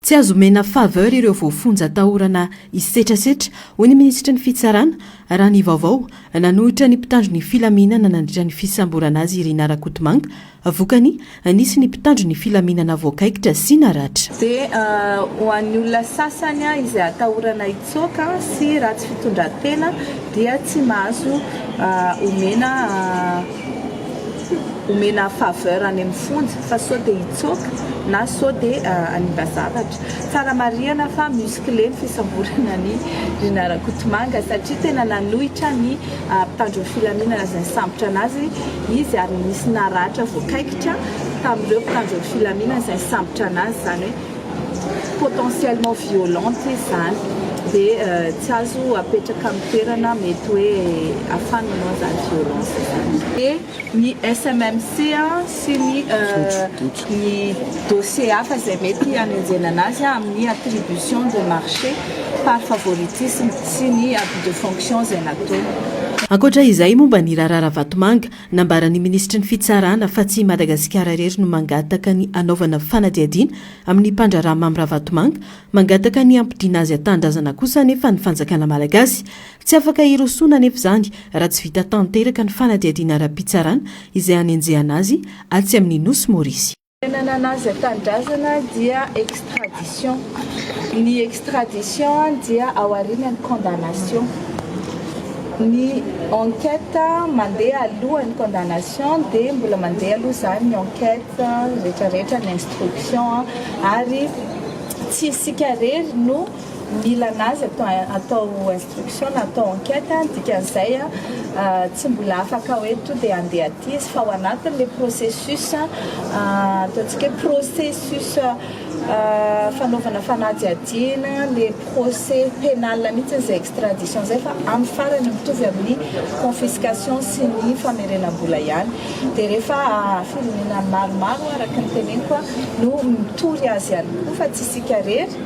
Tsy azo omena faveur ireo voafonja atahorana hisetrasetra, hoy ny minisitry ny Fitsarana, raha ny vaovao, nanohitra ny mpitandro ny filaminana nandritra ny fisamborana azy i Rina Rakotomanga, vokany, nisy ny mpitandro ny filaminana voakaikitra sy naratra. Dia ho an'ny olona sasany izay atahorana tsoaka sy ratsy fitondran-tena dia tsy mahazo omena omena faveur any amin'ny fonja fa sao dia hitsoaka na sao dia hanimba zavatra. Tsara marihana fa musclé ny fisamborana an'i Rinah Rakotomanga satria tena nanohitra ny mpitandro ny filaminana izay nisambotra anazy izy ary nisy naratra voakaikitra tamin'ireo mpitandro ny filaminana izay nisambotra anazy izany hoe potentiellement violente izy zany dia tsy azo apetraka amin'ny toerana mety hoe afahany manao an'izany violence izany. Dia ny SMMC sy ny ny dossier hafa izay mety hanenjena anazy amin'ny attribution de marché par favoritisme sy ny abus de fonction izay nataony. Ankoatra izay, momba ny raharaha Ravatomanga, Nambaran'ny minisitry ny Fitsarana fa tsy i Madagasikara irery no mangataka ny hanaovana fanadihadiana amin'ny mpandraharaha Mamy Ravatomanga. Mangataka ny hampodiana azy an-tanindrazana kosa anefa ny fanjakana malagasy. Tsy afaka hirosoana anefa izany raha tsy vita tanteraka ny fanadihadiana ara-pitsarana izay hanenjehana azy atsy amin'ny Nosy Maorisy. Nanana azy an-tanindrazana dia extradition. Ny extradition dia ao aorianan'ny condamnation. Ny enquête mandeha alohan'ny condamnation dia mbola mandeha aloha izany ny enquête rehetra rehetra, ny instruction ary tsy isika irery no. Mila anazy atao instruction na atao enquête a, dikan'izay a tsy mbola afaka hoe to dia andeha aty izy fa ao anatin'ilay processus ataontsika hoe processus fanaovana fanadihadiana, ilay procès pénal mihitsy izay extradition izay fa amin'ny farany mitovy amin'ny confiscation sy ny famerenam-bola ihany. Dia rehefa firenena maromaro araka ny teneniko a no mitory azy ihany koa fa tsy isika irery.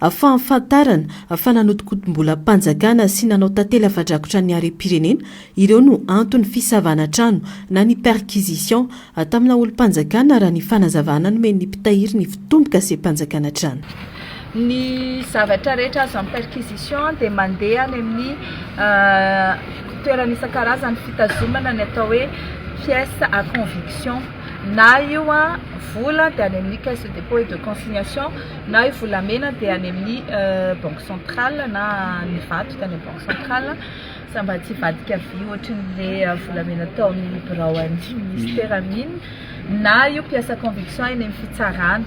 Fahafantarana fa nanotikotim-bolam-panjakana sy nanao tantely afa-drakotra ny harem-pirenena, ireo no anton'ny fisavana trano na ny perquisition tamina olom-panjakana raha ny fanazavana nomen'ny mpitahiry ny fotombokasem-panjakana trano. Ny zavatra rehetra azo amin'ny perquisition dia mandeha any amin'ny toerana isan-karazany fitazomana ny atao hoe pièces à conviction. Na io vola dia any amin'ny caisse de dépôt et de consignation na io volamena dia any amin'ny banque centrale na ny vato dia any amin'ny banque centrale sa mba tsy hivadika vy ohatrin'ilay volamena tao amin'ny birao an'ny ministera mine na io pièce à conviction eny amin'ny fitsarana.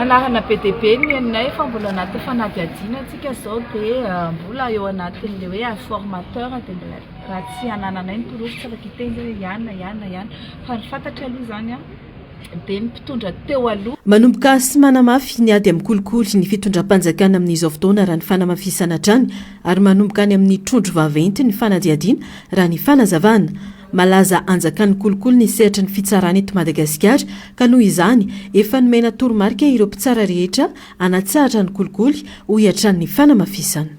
Anarana be dia be ny henonay efa mbola anatin'ny fanadihadiana antsika izao dia mbola eo anatin'ilay hoe informateur dia mbola. raha tsy hanananay ny porofo tsy afaka hiteny hoe ihany na ihany na ihany fa ny fantatry aloha izany an dia ny mpitondra teo aloha Manomboka sy manamafy ny ady amin'ny kolikoly ny fitondram-panjakana amin'izao fotoana raha ny fanamafisana hatrany ary manomboka any amin'ny trondro vaventy ny fanadihadiana raha ny fanazavana. Malaza anjakan'ny kolikoly ny sehatry ny fitsarana eto Madagasikara ka noho izany efa nomena toromarika ireo mpitsara rehetra hanatsahatra ny kolikoly, hoy hatrany ny fanamafisana.